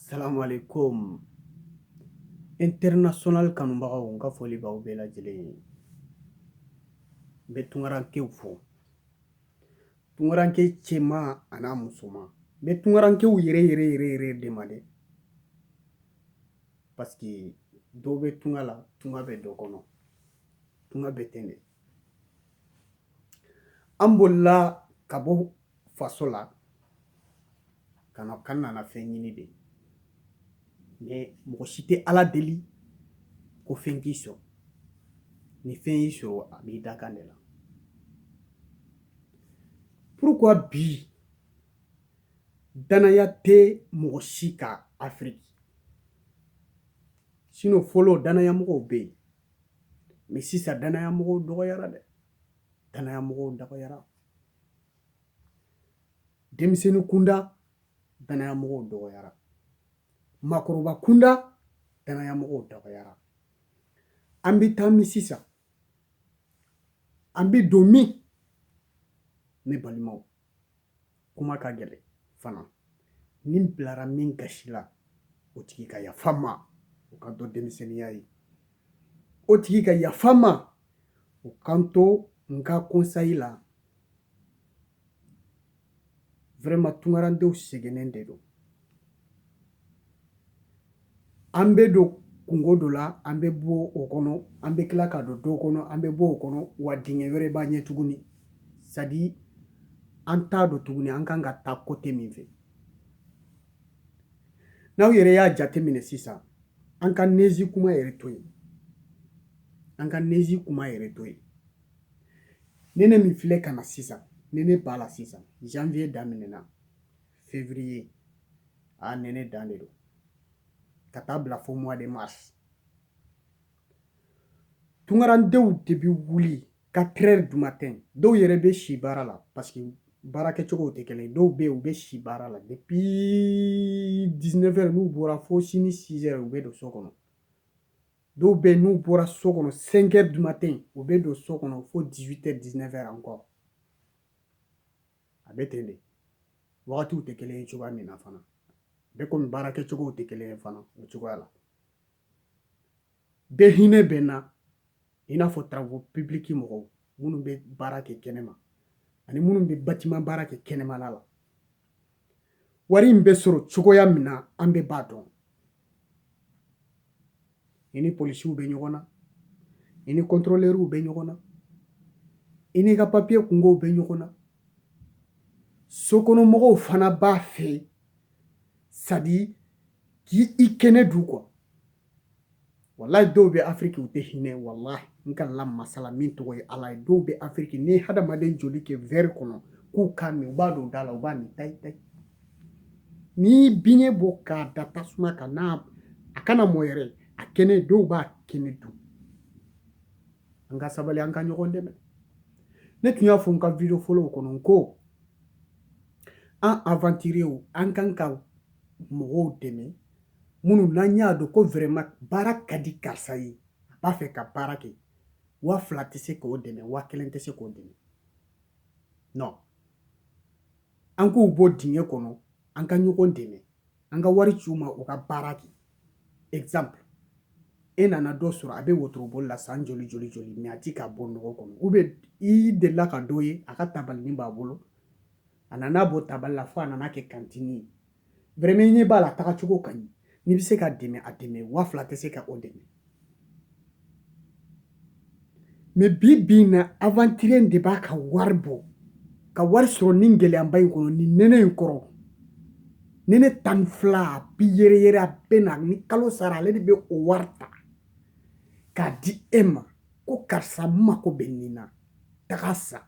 Assalamu alaikum. International kanubagaw n ka foli b'aw bɛɛ lajɛlen ye. N bɛ tunkarankew fo. Tunkaranke cɛman an'a musoman. N bɛ tunkarankew yɛrɛ yɛrɛ yɛrɛ yɛrɛ de ma dɛ. Parce que dɔw bɛ tunga la, tunga bɛ dɔ kɔnɔ. Tunga bɛ ten de. An bolila ka bɔ faso la k'an nana fɛn ɲini de mais mɔgɔ si tɛ ala deli ko fɛn k'i sɔrɔ ni fɛn y'i sɔrɔ a b'i dakan de la pourquoi bi danaya tɛ mɔgɔ si kan afiriki sinon fɔlɔ danaya mɔgɔw bɛ yen mais sisan danaya mɔgɔw dɔgɔyara dɛ danaya mɔgɔw dɔgɔyara denmisɛnnin kunda danaya mɔgɔw dɔgɔyara makɔrɔba kunda danaya mɔgɔw dɔgɔyara an bɛ taa min sisan an bɛ don min ne balimaw kuma ka gɛlɛn fana ni n bilara min gasi la o tigi ka yafa n ma o k'a dɔn denmisɛnninya ye O tigi ka yafa n ma o kan to n ka conseil la vraiment tunkarandenw sɛgɛnnen de don an bɛ don kunko dɔ la an bɛ bɔ o kɔnɔ an bɛ tila ka don dɔ kɔnɔ an bɛ bɔ o kɔnɔ wa dingɛ wɛrɛ b'an ɲɛ tuguni c'est-à-dire an t'a dɔn tuguni an kan ka taa côté min fɛ n'aw yɛrɛ y'a jateminɛ sisan an ka neige kuma yɛrɛ to yen an ka neige kuma yɛrɛ to yen nɛnɛ min filɛ ka na sisan nɛnɛ b'a la sisan janvier daminɛna février a nɛnɛ dan de don ka taa bila fo mois de mars tunkarandenw de bɛ wuli quatre heures du matin dɔw yɛrɛ bɛ si baara la parce que baara kɛcogow tɛ kelen dɔw bɛ yen u bɛ si baara la depuis dix-neuf heures n'u bɔra fo sini six heures u bɛ don so kɔnɔ dɔw bɛ yen n'u bɔra so kɔnɔ cinq heures du matin u bɛ don so kɔnɔ fo dix-huit heures dix-neuf heures encore a bɛ ten de wagatiw tɛ kelen ye cogoya min na fana bɛɛ komi baara kɛcogow tɛ kelen ye fana o cogoya la bɛɛ hinɛ bɛ n na i n'a fɔ travaux publics mɔgɔw minnu bɛ baara kɛ kɛnɛma ani minnu bɛ batima baara kɛ kɛnɛmala la wari in bɛ sɔrɔ cogoya min na an bɛɛ b'a dɔn i ni polisiww bɛ ɲɔgɔn na i ni kɔntɔlɛriw bɛ ɲɔgɔn na i n'i ka papiye kungow bɛ ɲɔgɔn na sokɔnɔmɔgɔw fana b'a fɛ c'est-à-dire k'i kɛnɛ dun quoi walayi dɔw bɛ afiriki u tɛ hinɛ walayi n ka la masa la min tɔgɔ ye ala ye dɔw bɛ afiriki n'i hadamaden joli kɛ verre kɔnɔ k'u k'a min u b'a don da la u b'a min tayi tayi n'i biɲɛ bɔ k'a da tasuma kan n'a a kana mɔ yɛrɛ a kɛnɛ dɔw b'a kɛnɛ dun an ka sabali an ka ɲɔgɔn dɛmɛ ne tun y'a fɔ n ka video fɔlɔw kɔnɔ ko an aventuriers an kan ka mɔgɔw dɛmɛ minnu n'an y'a dɔn ko vraiment baara ka di karisa ye a b'a fɛ ka baara kɛ waa fila tɛ se k'o dɛmɛ waa kelen tɛ se k'o dɛmɛ non an k'u bɔ dingɛ kɔnɔ an ka ɲɔgɔn dɛmɛ an ka wari ci u ma u ka baara kɛ exemple e nana dɔ sɔrɔ a bɛ wotoroboli la san joli joli joli mais a ti ka bɔ nɔgɔ kɔnɔ ou bien i delila ka dɔ ye a ka tabalinin b'a bolo a nana bɔ tabali la fo a nana kɛ kantini ye vraiment i ɲɛ b'a la tagacogo ka ɲi n'i bɛ se k'a dɛmɛ a dɛmɛ waa fila tɛ se ka o dɛmɛ mais bi bi na aventurier de b'a ka wari bɔ ka wari sɔrɔ ni gɛlɛyaba in kɔnɔ ni nɛnɛ in kɔrɔ nɛnɛ tan ni fila a bi yɛrɛyɛrɛ a bɛ na ni kalo sara ale de bɛ o wari ta k'a di e ma ko karisa n mako bɛ nin na taga sa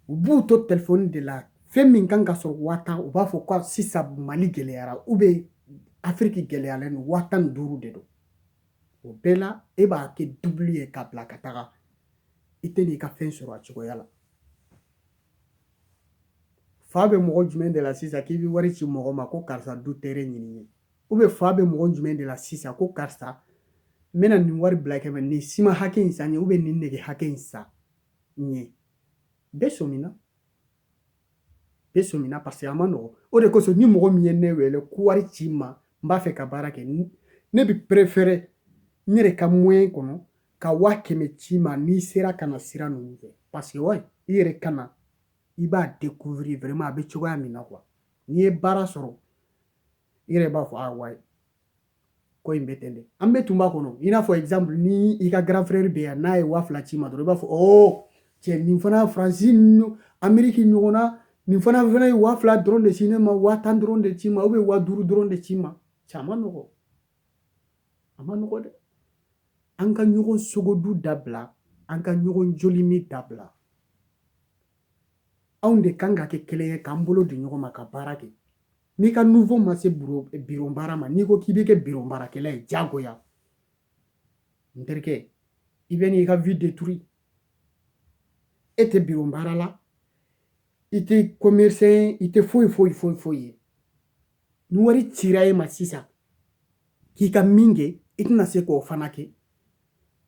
u b'u to telefɔni de la fɛn min kan ka sɔrɔ waa tan u b'a fɔ ko sisan mali gɛlɛyara ou bien afiriki gɛlɛyalen don waa tan ni duuru de don o bɛɛ la e b'a kɛ dubili ye k'a bila ka taga i tɛ n'i ka fɛn sɔrɔ a cogoya la fa bɛ mɔgɔ jumɛn de la sisan k'i bɛ wari ci mɔgɔ ma ko karisa du terrain ɲini n ye ou bien fa bɛ mɔgɔ jumɛn de la sisan ko karisa n bɛna nin wari bila kɛmɛ nin siman hakɛ in san n ye ou bien nin nɛgɛ hakɛ in san n ye bɛɛ sɔmina bɛɛ sɔmina parce que a ma nɔgɔn o de kosɔn ni mɔgɔ min ye ne wele ko wari ci n ma n b'a fɛ ka baara kɛ ne bɛ préférer n yɛrɛ ka moyen kɔnɔ ka waa kɛmɛ ci i ma n'i sera ka na sira ninnu fɛ parce que wa i yɛrɛ ka na i b'a découvrir vraiment a bɛ cogoya min na quoi n'i ye baara sɔrɔ i yɛrɛ b'a fɔ ah ouais ko in bɛ ten de an bɛɛ tun b'a kɔnɔ i n'a fɔ exemple ni i ka grand frère bɛ yan n'a ye waa fila c'i ma dɔrɔn i b'a fɔ ɔ cɛ nin fana faransi ameriki ɲɔgɔn na nin fana fana ye waa fila dɔrɔn de ci ne ma waa tan dɔrɔn de ci ma ou bien waa duuru dɔrɔn de ci ma cɛ a man nɔgɔn a man nɔgɔn dɛ an ka ɲɔgɔn sogodun dabila an ka ɲɔgɔn jolimin dabila anw de kan ka kɛ kelen ye k'an bolo di ɲɔgɔn ma ka baara kɛ n'i ka niveau ma se biro baara ma n'i ko k'i bɛ kɛ biro baarakɛla ye diyagoya n terikɛ i bɛ n'i ka vie détruire e tɛ biro baara la i tɛ commerçant ye i tɛ foyi foyi foyi foyi ye ni wari cira e ma sisan k'i ka min kɛ i tɛna se k'o fana kɛ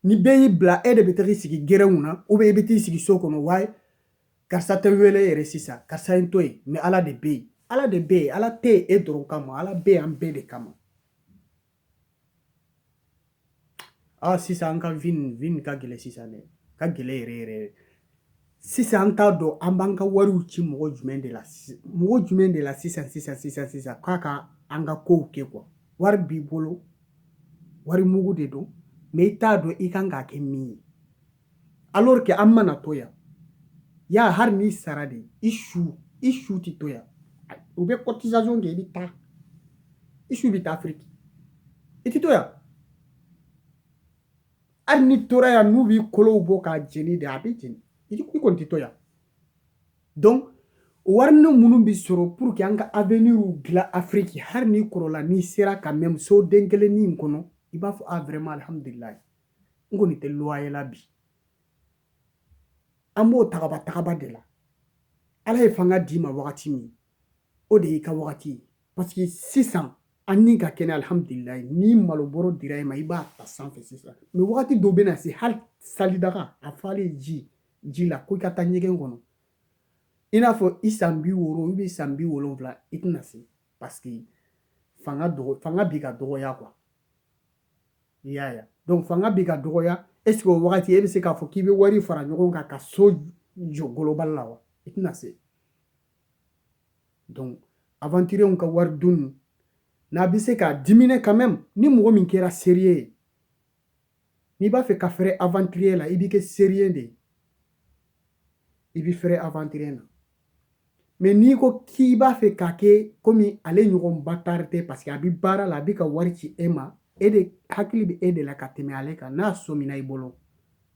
ni bɛɛ y'i bila e de bɛ taga i sigi gɛrɛnw na ou bien i bɛ t'i sigi so kɔnɔ waaye karisa tɛ wele yɛrɛ sisan karisa ye to yen mais ala de bɛ yen ala de bɛ yen ala tɛ yen e dɔrɔn kama ala bɛ yen an bɛɛ de kama aa ah, sisan an ka vie nin vie nin ka gɛlɛn sisan dɛ ka gɛlɛn yɛrɛ yɛrɛ sisan an t'a dɔn an b'an ka wariw ci mɔgɔ jumɛn de la mɔgɔ jumɛn de la sisan sisan sisan sisan k'a ka an ka kow kɛ quoi wari b'i bolo wari mugu de don mais i t'a dɔn i kan k'a kɛ min ye alors que an mana to yan yan hali n'i sara de i su i su tɛ to yan u bɛ cotisation kɛ i bɛ taa i su bɛ taa afiriki i tɛ to yan hali n'i tora yan n'u b'i kolow bɔ k'a jeni de a bɛ jeni i kɔni tɛ to yan donc warini minnu bɛ sɔrɔ pour que an ka avenir dilan afiriki hali n'i kɔrɔla n'i sera ka même so den kelennin in kɔnɔ i b'a fɔ a vraiment alhamdulilayi n kɔni tɛ loyer la bi an b'o tagaba tagaba de la ala ye fanga d'i ma wagati min o de y'i ka wagati ye parce que sisan an ni ka kɛnɛ alihamudulilayi ni malobɔrɔ dira i ma i b'a ta sanfɛ sisan mais wagati dɔ bɛna se hali salidaga a falen ji ji la ko i ka taa ɲɛgɛn kɔnɔ i n'a fɔ i san bi wɔɔrɔ ou bien san bi wolonwula i tɛna se parce que fanga dɔgɔ fanga bɛ ka dɔgɔya quoi i y'a ye donc fanga bɛ ka dɔgɔya est ce que o wagati e bɛ se k'a fɔ k'i bɛ wari fara ɲɔgɔn kan ka so jɔ global la wa i tɛna se donc aventurierw ka wari dun n'a bɛ se k'a diminuer quand même ni mɔgɔ min kɛra sérieux ye n'i b'a fɛ ka fɛrɛ aventurier la i b'i kɛ sérieux de ye i bɛ fɛrɛ aventurier na mais n'i ko k'i b'a fɛ k'a kɛ comme ale ɲɔgɔn bâtard tɛ parce que a bɛ baara la a bɛ ka wari ci e ma e de hakili bɛ e de la ka tɛmɛ ale kan n'a sɔmina i bolo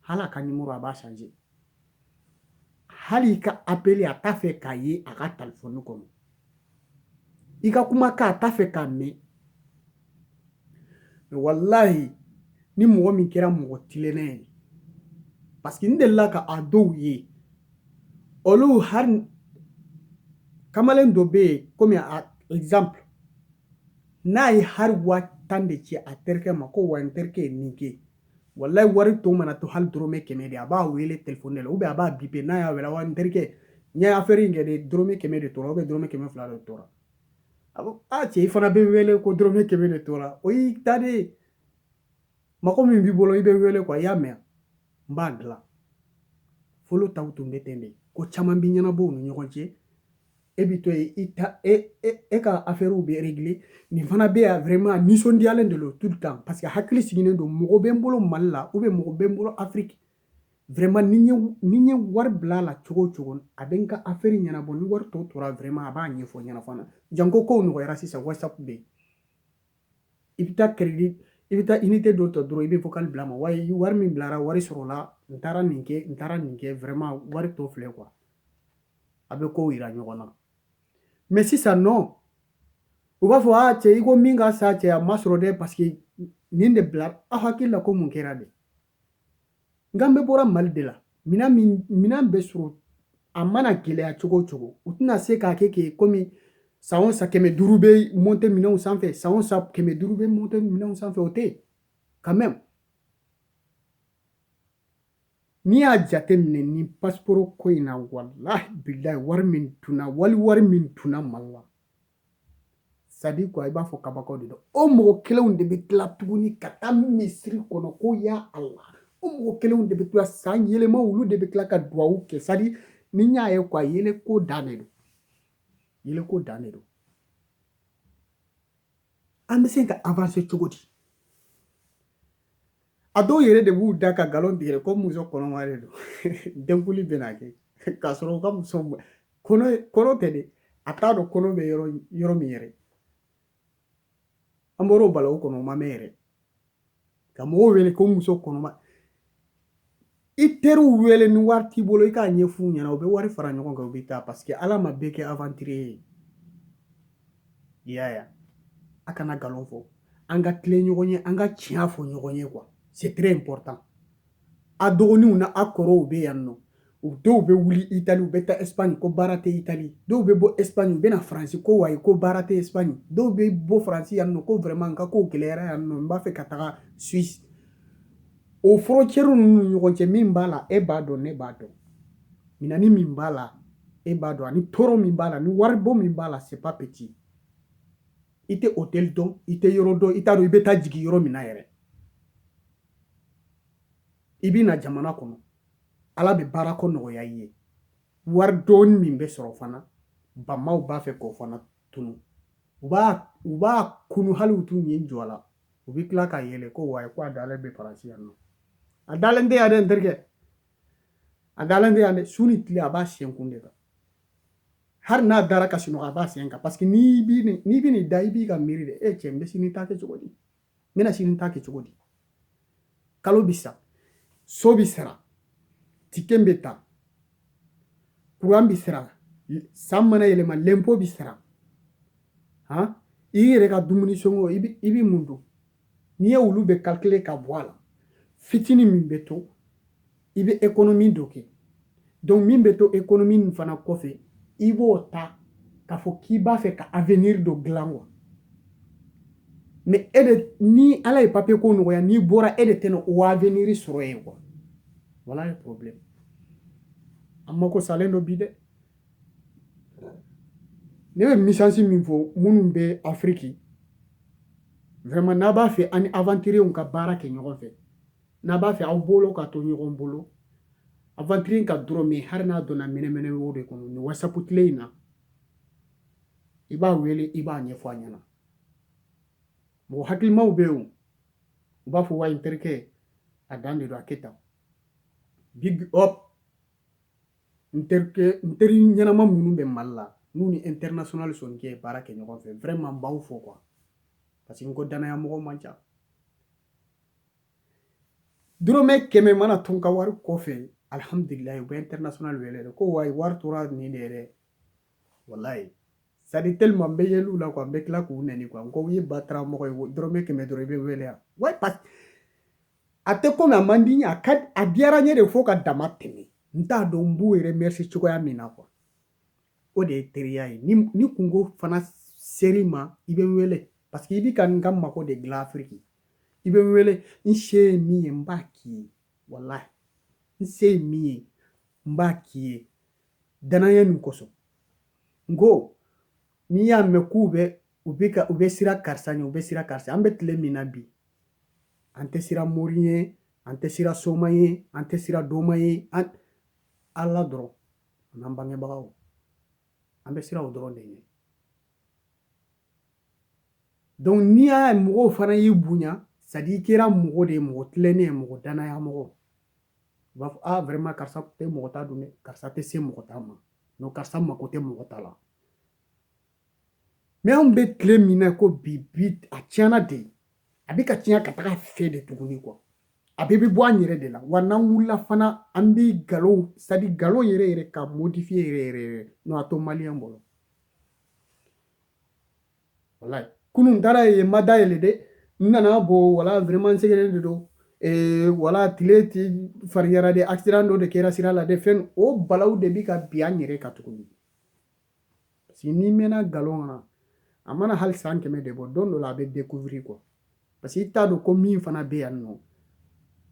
hali a ka numéro a b'a changer hali i ka appel a t'a fɛ k'a ye a ka téléphone kɔnɔ i ka kumakan a t'a fɛ k'a mɛn walayi ni mɔgɔ min kɛra mɔgɔ tilennen ye parce que n delila ka a dɔw ye olu hali kamalen dɔ bɛ yen komi a exemple n'a ye hali waa tan de ci a terikɛ ma ko wa n terikɛ ye nin kɛ walayi wari tɔ mana to hali dɔrɔmɛ kɛmɛ de a b'a wele téléphone de la ou bien a b'a biper n'a y'a wele wa n terikɛ n ye afɛri in kɛ de dɔrɔmɛ kɛmɛ de tora ou bien dɔrɔmɛ kɛmɛ fila de tora a ko a cɛ i fana bɛ wele ko dɔrɔmɛ kɛmɛ de tora o y'i ta de ye mɔgɔ min b'i bolo i bɛ wele quoi i y'a mɛn n b'a dilan fɔlɔ taw tun bɛ ten de ko caman bɛ ɲɛnabɔ u ni ɲɔgɔn cɛ e bɛ to yen i ta e e e ka afɛriw bɛ régler nin fana bɛ yan vraiment nisɔndiyalen de don tout le temps parce que hakili sigilen don mɔgɔ bɛ n bolo mali la ou bien mɔgɔ bɛ n bolo afiriki vraiment ni n ye ni n ye wari bila a la cogo o cogo a bɛ n ka afɛri ɲɛnabɔ ni wari tɔ tora vraiment a b'a ɲɛfɔ n ɲɛna fana janko kow nɔgɔyara sisan whatsapp bɛ yen i bɛ taa crédit i bɛ taa unité dɔ ta dɔrɔn i bɛ vocal bila a ma wayi wari min bilara wari sɔrɔla n taara nin kɛ n taara nin kɛ vraiment wari tɔ filɛ quoi a bɛ ko jira ɲɔgɔn na mais sisan non u b'a fɔ a cɛ i ko min ka san cɛ a ma sɔrɔ dɛ parce que nin de bila aw hakili la ko mun kɛra de nka an bɛɛ bɔra mali de la minɛn bɛ sɔrɔ a mana gɛlɛya cogo o cogo u tɛna se k'a kɛ kɛ komi san o san kɛmɛ duuru bɛ monter minɛnw sanfɛ san o san kɛmɛ duuru bɛ monter minɛnw sanfɛ o tɛ yen quand même n'i y'a jateminɛ ni pasiporo ko in na walahi bilahi wari min tunna wali wari min tunna mali la c'est à dire quoi i b'a fɔ kabako de don o mɔgɔ kelenw de bɛ tila tuguni ka taa misiri kɔnɔ ko ya ala o mɔgɔ kelenw de bɛ tila san yɛlɛma olu de bɛ tila ka duwawu kɛ c'est à dire ni n y'a ye quoi yɛlɛ ko dan de don yɛlɛ ko dan de don an bɛ se ka avancer cogo di a dɔw yɛrɛ de b'u da ka nkalon tigɛ ko muso kɔnɔma de don denkuli bɛna kɛ k'a sɔrɔ u ka muso kɔnɔ tɛ dɛ a t'a dɔn kɔnɔ bɛ yɔrɔ min yɛrɛ an bɔr'o balaw kɔnɔ o ma mɛn yɛrɛ ka mɔgɔw wele ko muso kɔnɔma i teriw wele ni wari t'i bolo i k'a ɲɛf'u ɲɛna u bɛ wari fara ɲɔgɔn kan u bɛ taa parce que ala ma bɛɛ kɛ aventurier ye i y'a ye a kana nkalon fɔ an ka tilen ɲɔgɔn ye an ka tiɲɛ fɔ ɲɔgɔn ye quoi c'est très important a dɔgɔninw n'a kɔrɔw bɛ yan nɔ u dɔw bɛ wuli itali u bɛ taa espagne ko baara tɛ itali dɔw bɛ bɔ espagne u bɛ na faransi ko wayi ko baara tɛ espagne dɔw bɛ bɔ faransi yan nɔ ko vraiment n ka kow gɛlɛyara yan nɔ n b'a fɛ ka taga suisse O frontière ninnu ɲɔgɔn cɛ min b'a la e b'a dɔn ne b'a dɔn minani min b'a la e b'a dɔn ani tɔɔrɔ min b'a la ni waribɔ min b'a la c'est pas petit i tɛ hôtel dɔn i tɛ yɔrɔ dɔn i t'a dɔn i bɛ taa jigin yɔrɔ min na yɛrɛ i bɛ na jamana kɔnɔ ala bɛ baara ko nɔgɔya i ye wari dɔɔni min bɛ sɔrɔ fana bamaw b'a fɛ k'o fana kunu u b'a kunu hali u t'u ɲɛ jɔ a la u bɛ tila ka yɛlɛ ko wa ko a dalen bɛ Faransi yan non a dalen tɛ yan dɛ n terikɛ a dalen tɛ yan dɛ su ni tile a b'a sen kun de kan hali n'a dara ka sunɔgɔ a b'a sen kan paseke n'i bi n'i bɛ n'i da i b'i ka miiri de e cɛ n bɛ sini ta kɛ cogo di n bɛna sini ta kɛ cogo di kalo bi sa so bi sara ticket bɛ ta kuran bɛ sara san mana yɛlɛma lɛnpo bɛ sara han i yɛrɛ ka dumuni sɔngɔ i bɛ i bɛ mun dun n'i ye olu bɛɛ kalkile ka bɔ a la fitinin min bɛ to i bɛ ekonomi dɔ kɛ donc min bɛ to ekonomi nin fana kɔfɛ i b'o ta k'a fɔ k'i b'a fɛ ka avenir dɔ dilan wa mais e de ni ala ye papiye ko nɔgɔya n'i bɔra e de tɛna o avenir sɔrɔ yen wa voilà le problème an mako salen don bi dɛ ne bɛ misansi min fɔ minnu bɛ afiriki vraiment n'a b'a fɛ ani aventuriers ka baara kɛ ɲɔgɔn fɛ n'a b'a fɛ aw bolo ka to ɲɔgɔn bolo aventurier ka dɔrɔmɛ hali n'a donna mɛnɛmɛnɛ wo de kɔnɔ ni WhatsApp tile in na i b'a wele i b'a ɲɛfɔ a ɲɛna mɔgɔ hakilimaw bɛ yen u b'a fɔ wa n terikɛ a dan de don a kɛ tan big up n terikɛ n teri ɲɛnama minnu bɛ Mali la n'u ni international Soninkɛ ye baara kɛ ɲɔgɔn fɛ vraiment n b'aw fo quoi parce que n ko danaya mɔgɔ man ca dɔrɔmɛ kɛmɛ mana to n ka wari kɔfɛ alhamdulilayi u bɛ international wele ko wayi wari tora nin de yɛrɛ walayi c'est-à-dire tellement n bɛ yɛlɛ u la kuwa n bɛ tila k'u neni kuwa n ko u ye batara mɔgɔ ye dɔrɔmɛ kɛmɛ dɔrɔn i bɛ wele yan wa a tɛ komi a man di n ye a ka a diyara n ye de fo ka dama tɛmɛ n t'a dɔn n b'u remercier cogoya min na kuwa o de ye teriya ye ni kunko fana ser'i ma i bɛ n wele paseke i bɛ ka n ka mako de dilan afiriki i bɛ n wele n se ye min ye n b'a k'i ye walayi n se ye min ye n b'a k'i ye danaya min kosɔn n ko n'i y'a mɛn k'u bɛ u bɛ ka u bɛ sira karisa ɲɛ u bɛ sira karisa an bɛ tile min na bi an tɛ sira mori ye an tɛ sira soma ye an tɛ sira doma ye ala dɔrɔn an'an bangebagaw an bɛ sira o dɔrɔn de ye donc n'i y'a ye mɔgɔw fana y'i bonya c'est à dire i kɛra mɔgɔ de ye mɔgɔ tilennen ye mɔgɔ danaya mɔgɔ u b'a fɔ a vraiment karisa tɛ mɔgɔ ta dun dɛ karisa tɛ se mɔgɔ ta ma non karisa mako tɛ mɔgɔ ta la mais anw bɛ tile min na ko bi bi a tiɲɛna de a bɛ ka tiɲɛ ka taga fɛ de tuguni quoi a bɛɛ bɛ bɔ an yɛrɛ de la wa n'an wulila fana an bɛ nkalon c'est à dire nkalon yɛrɛ yɛrɛ ka modifier yɛrɛ yɛrɛ yɛrɛ non a to maliyɛn bolo wala kunun n taara yen ma da yɛlɛ dɛ n nana bɔ wala vraiment n sɛgɛnnen de don ee wala tile ti fariyara de accident dɔ de kɛra sira la de fɛn o balaw de bi ka bin an yɛrɛ kan tuguni parce que n'i mɛnna nkalon na a mana hali san kɛmɛ de bɔ don dɔ la a bɛ découvrir quoi Parce que i t'a dɔn ko min fana bɛ yan nɔ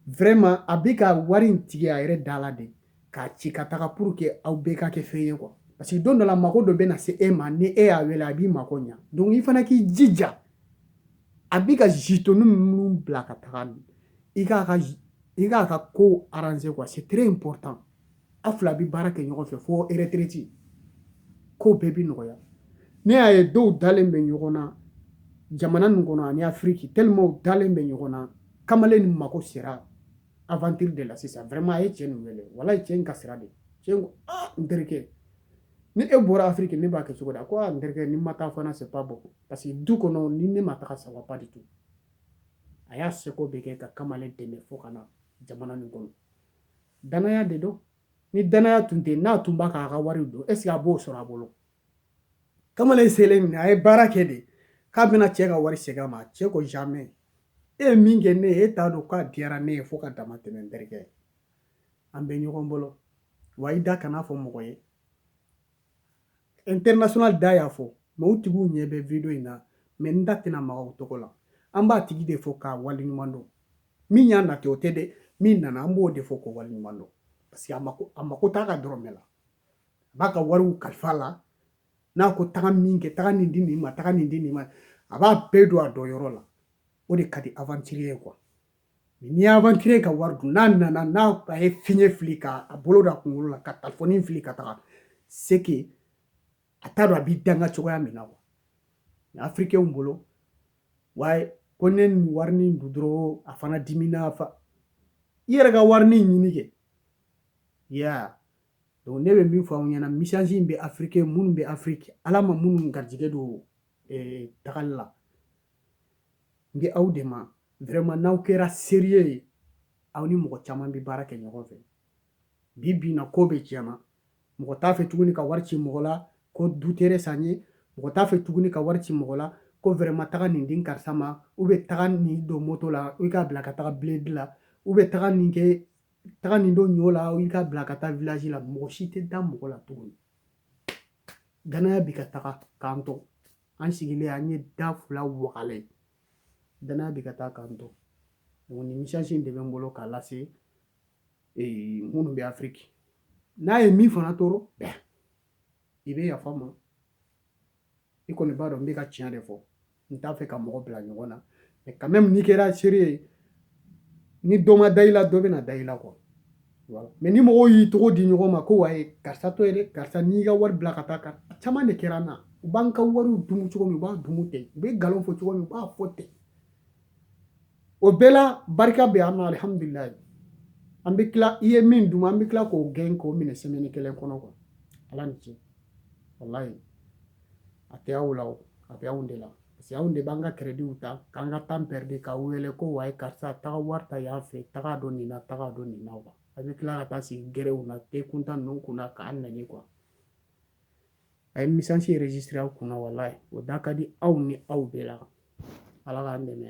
vraiment a bɛ ka wari in tigɛ a yɛrɛ da la de k'a ci ka taga pour que aw bɛɛ ka kɛ fɛn ye quoi parce que don dɔ la mago dɔ bɛna se e ma ni e y'a wele a b'i mako ɲa donc i fana k'i jija a bɛ ka jitoni minnu bila ka taga i k'a ka i k'a ka ko arranger quoi c'est très important aw fila bɛ baara kɛ ɲɔgɔn fɛ fo retraite ko bɛɛ bɛ nɔgɔya ne y'a ye dɔw dalen bɛ ɲɔgɔn na jamana nin kɔnɔ ani afiriki tellement u dalen bɛ ɲɔgɔn na kamalen nin mago sera aventure de la sisan vraiment a ye cɛ nin wele walayi cɛ in kasira de cɛ in ko n terikɛ ni e bɔra afiriki ne b'a kɛ cogo di a ko n terikɛ ni n ma taa fana c'est pas bon parce que du kɔnɔ ni ne ma taga ça va pas du tout a y'a seko bɛɛ kɛ ka kamalen dɛmɛ fo ka na jamana nin kɔnɔ Danaya de don ni danaya tun tɛ n'a tun b'a k'a ka wari don est ce que a b'o sɔrɔ a bolo kamalen selen min a ye baara kɛ de k'a bɛna cɛ ka wari segin a ma cɛ ko jamais e ye min kɛ ne ye e t'a dɔn k'a diyara ne ye fo ka dama tɛmɛ n terikɛ an bɛ ɲɔgɔn bolo wa i da kan'a fɔ mɔgɔ ye international da y'a fɔ mais u tigiw ɲɛ bɛ video in na mais n da tɛna maga u tɔgɔ la an b'a tigi de fo k'a waleɲuman dɔn min y'a nati o tɛ dɛ min nana an b'o de fo k'o waleɲuman dɔn parce que a mako t'a ka dɔrɔmɛ la a b'a ka wariw kalifa la n'a ko taga min kɛ taga nin di nin ma taga nin di nin ma a b'a bɛɛ don a don yɔrɔ la o de ka di aventurier ye quoi n'i y'aventurier ka wari dun n'a nana n'a a ye fiɲɛ fili ka a bolo da kunkolo la ka talifɔni fili ka taga c'est que a t'a dɔn a b'i danga cogoya min na quoi afirikɛnw bolo wa ko ne nin warinin dun dɔrɔn a fana dimina fa i yɛrɛ ka warinin ɲini kɛ ya donc ne bɛ min fɔ aw ɲɛna message in bɛ africain minnu bɛ afrique ala ma minnu garijɛgɛ don eh, tagali la n bɛ aw de ma Vraiment n'aw kɛra sérieux ye aw ni mɔgɔ caman bɛ baara kɛ ɲɔgɔn fɛ bi bi in na ko bɛɛ tiɲɛna mɔgɔ t'a fɛ tuguni ka wari ci mɔgɔ la ko du terrain san ye mɔgɔ t'a fɛ tuguni ka wari ci mɔgɔ la ko vraiment taga nin di karisa ma ou bien taga nin don moto la i k'a bila ka taga bled la ou bien taga nin kɛ taga nin don ɲɔ la i k'a bila ka taa village la mɔgɔ si tɛ da mɔgɔ la tuguni danaya bɛ ka taga k'an to an sigilen an ye da fila wagalen Danaya bɛ ka taa k'an to nin message in de bɛ n bolo k'a lase minnu bɛ afrique n'a ye min fana tɔɔrɔ i bɛ yafa n ma i kɔni b'a dɔn n bɛ ka tiɲɛ de fɔ n t'a fɛ ka mɔgɔ bila ɲɔgɔn na mais quand même n'i kɛra sérieux ye ni dɔ ma da i la dɔ bɛna da i la quoi mais ni mɔgɔw y'i tɔgɔ di ɲɔgɔn ma ko wayi karisa to yen dɛ karisa n'i ka wari bila ka taa ko caman de kɛra n na u b'an ka wariw dumu cogo min u b'a dumu ten u bɛ nkalon fɔ cogo min u b'a fɔ ten o bɛɛ la barika bɛ an na alihamudulilayi an bɛ tila i ye min dun an bɛ tila k'o gɛn k'o minɛ semaine kelen kɔnɔ quoi ala ni ce walayi a tɛ aw la o a bɛ anw de la parce que anw de b'an ka créditw ta k'an ka temps perdre k'aw wele ko wayi karisa taga wari ta yan fɛ taga don nin na taga don nin na quoi a bɛ tila ka taa sigi gɛrɛnw na te kuntan ninnu kunna k'an nɛni quoi a ye message enregistré an kunna voilà o da ka di aw ni aw bɛɛ la ala k'an dɛmɛ